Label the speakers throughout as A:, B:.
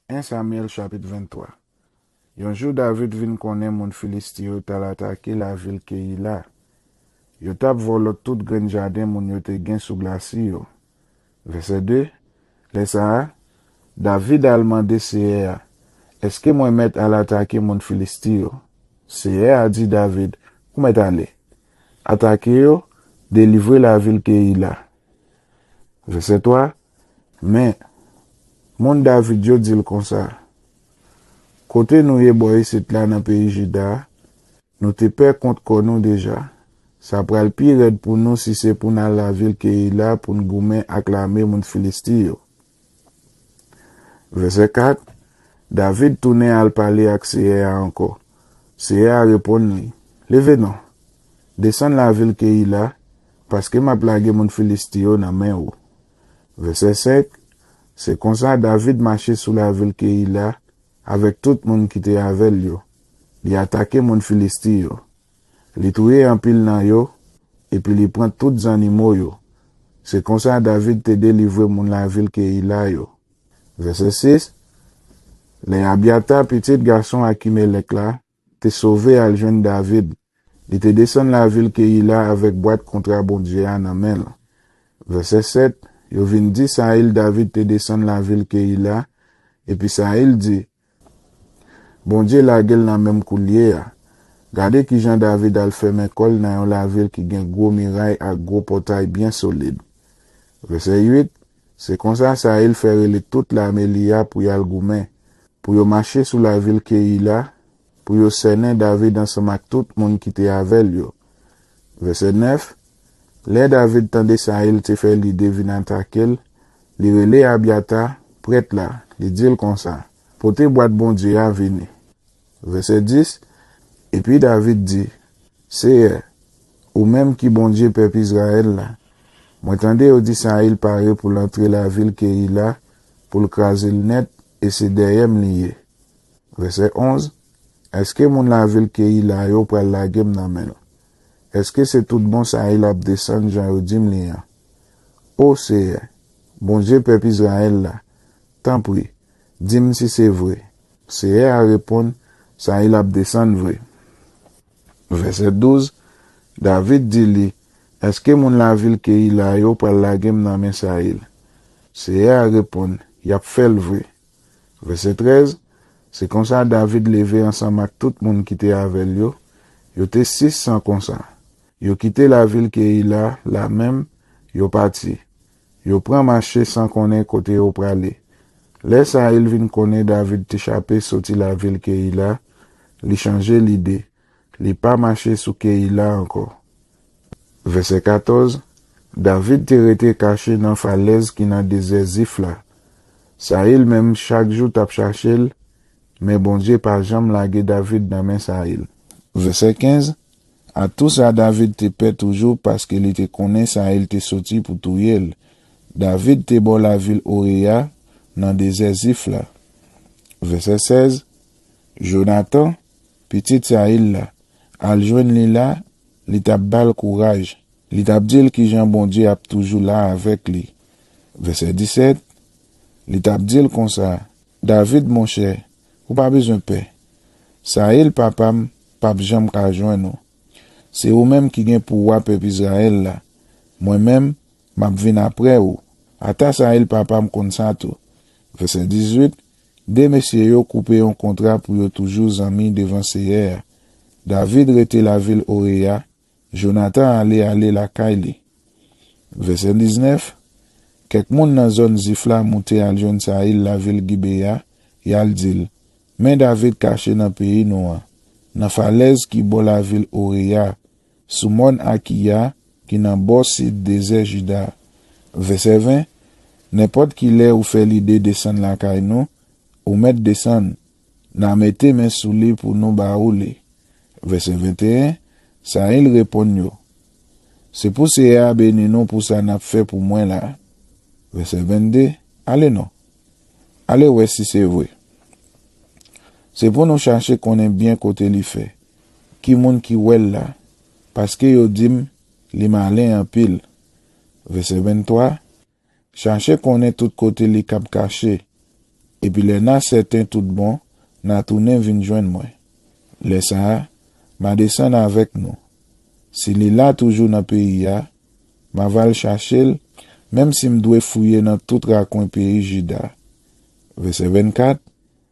A: 1 Samyèl chapit 23 Yon jou David vin konnen moun Filisti yo t al atake lavil Keyila. Yo t ap vòlò tout grenn jaden moun yo te gen sou glasi yo. Vèsè 2 Lè sa a, David al mande Seyè a, Èske mwen mèt al atake moun Filisti yo? Seyè a di David, Ou mèt ale. Atake yo, delivre lavil Keyila. Vèsè 3 Men, moun David yo di l konsa, Kote nou ye bò isit la nan peyi Jida a, nou te pè kont kò nou deja. Sa pral pi rèd pou nou si se pou n al lavil Keyila pou n goumen ak lame moun Filisti yo. Vèsè 4, David tounen al pale ak Seyè a ankò. Seyè a reponn li, Leve non, desann lavil Keyila, Paske m ap lage moun Filisti yo nan men ou. Vèsè 5, Se konsa David mache sou lavil Keyila avèk tout moun ki te avè l yo, li atake moun Filisti yo. Li touye anpil nan yo, epi li pran tout zannimo yo. Se konsa David te delivre moun lavil Keyila yo. Vèsè 6, Lè Abyata, pitit gason Akimelèk la, Te sove al jwenn David. Li te desann lavil Keyila avèk bwat kontra Bondye a nan men l. Vèsè 7, Yo vin di Sayil David te desann lavil Keyila, epi Sayil di, Bondye lage l nan men m koulye a. Gade ki jan David al fèmen kò l nan yon lavil ki gen gwo miray ak gwo pòtay byen solid. Vèsè 8, Se konsa Sayil fè rele tout lame li a pou y al goumen, pou yo mache sou lavil Keyila, pou yo sènen David ansanm ak tout moun ki te avè l yo. Vèsè 9, Lè David tande Sayil te fè lide vin atake l, li rele Abyata, prèt la, li di l konsa, Pote bwat Bondye a vini. Vèsè 10, Epi David di, Seyè, ou menm ki Bondye pèp Izrayèl la, mwen tande yo di Sayil pare pou l antre lavil Keyila pou l kraze l nèt e se dèyè m li ye. Vèsè 11, Èske moun lavil Keyila yo pral lage m nan men l? Èske se tout bon Sayil ap desann jan yo di m li an? O Seyè, Bondye pèp Izrayèl la, tanpri, di m si se vre. Seyè a reponn, Sayil ap desann vre. Vèsè 12, David di li, Èske moun lavil Keyila yo pral lage m nan men Sayil? Seyè a reponn, Y ap fè l vre. Vèsè 13, Se konsa David leve ansanm ak tout moun ki te avè l yo, yo te sis san konsa, yo kite lavil Keyila la menm, yo pati, Yo pran mache san konnen kote yo prale. Lè sa a l vin konnen David te chape soti lavil Keyila, li chanje lide, li pa mache sou Keyila ankò. Vèsè 14, David te rete kache nan falèz ki nan dezè Zif la. Sayil menm chak jou t ap chache l, men Bondye pa janm lage David nan men Sayil. Vèsè 15, A tou sa, David te pè toujou paske li te konnen sa il te soti pou touye l. David te bò lavil Oreya, nan dezè Zif la. Vèsè 16, Jonatan, pitit Sayil la, al jwenn li la, li t ap ba l kouraj, li t ap di l kijan Bondye ap toujou la avèk li. Vèsè 17, Li t ap di l konsa, David monchè, Ou pa bezwen pè. Saül papa m pap janm ka jwenn ou. Se ou menm ki gen pou wa pèp Israël la. Mwen menm, m ap vin apre ou. Ata Saül papa m konn sa tou. Vèsè 18, De mesye yo koupe yon kontra pou yo toujou zanmi devan Seyè a. David rete lavil Oré a Jonatan ale ale lakay li. Vèsè 19, Kèk moun nan zòn Zif la moute al jwenn Sayil lavil Gibeya, y al di l, Men David kache nan peyi nou an, nan falèz ki bò lavil Oreya, sou mòn Akiya ki nan bò sid dezè Jida. Vèsè 20, Nenpòt ki lè ou fè lide desann lakay nou, ou mèt desann, N'a mete men sou li pou nou ba ou li. Vèsè 21, Sayil reponn yo, Se pou Seyè a beni nou pou sa n'ap fè pou mwen la a. Vèsè 22, Ale non. Ale wè si se vre. Se pou nou chache konnen byen kote li fè, ki moun ki wè l' la, paske yo di m', Li malen anpil. Vèsè 23. Chache konnen tout kote li kab kache, epi lè n'a sèten tout bon, n'a tounen vin jwenn mwen. Lè sa a, m'a desann avèk nou. Si li la toujou nan peyi a, m'a va al chache l', menm si m' dwe fouye nan tout rakwen peyi Jida. Vèsè 24,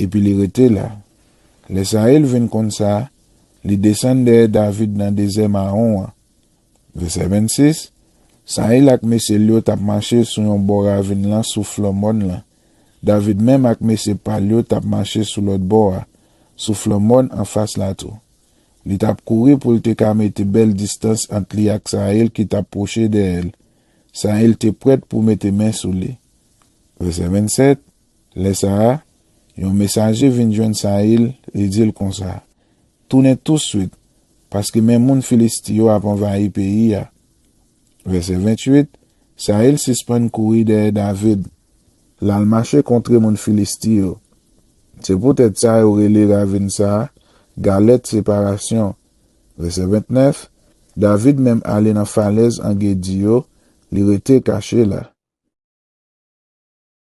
A: Epi li rete la. Lè Sayil vin konn sa, li desann dèyè David nan dezè Mawon an. Vèsè 26, Sayil ak mesye l yo t ap mache sou yon bò ravin lan sou flank mòn lan. David menm ak mesye pa l yo t ap mache sou lòt bò a, sou flank mòn anfas la tou. Li t ap kouri pou l te ka mete bèl distans ant li ak Sayil ki t ap pwoche dèyè l. Sayil te prèt pou mete men sou li. Vèsè 27. Lè sa a, yon mesaje vin jwenn Sayil, li di l konsa, Tounen tousuit, paske men moun Filisti yo ap anvayi peyi a. Vèsè 28, Sayil sispann kouri dèyè David, l al mache kontre moun Filisti yo. Se poutèt sa yo rele ravin sa a Galèt Separasyon. Vèsè 29, David menm ale nan falèz Angedi yo, li rete kache la.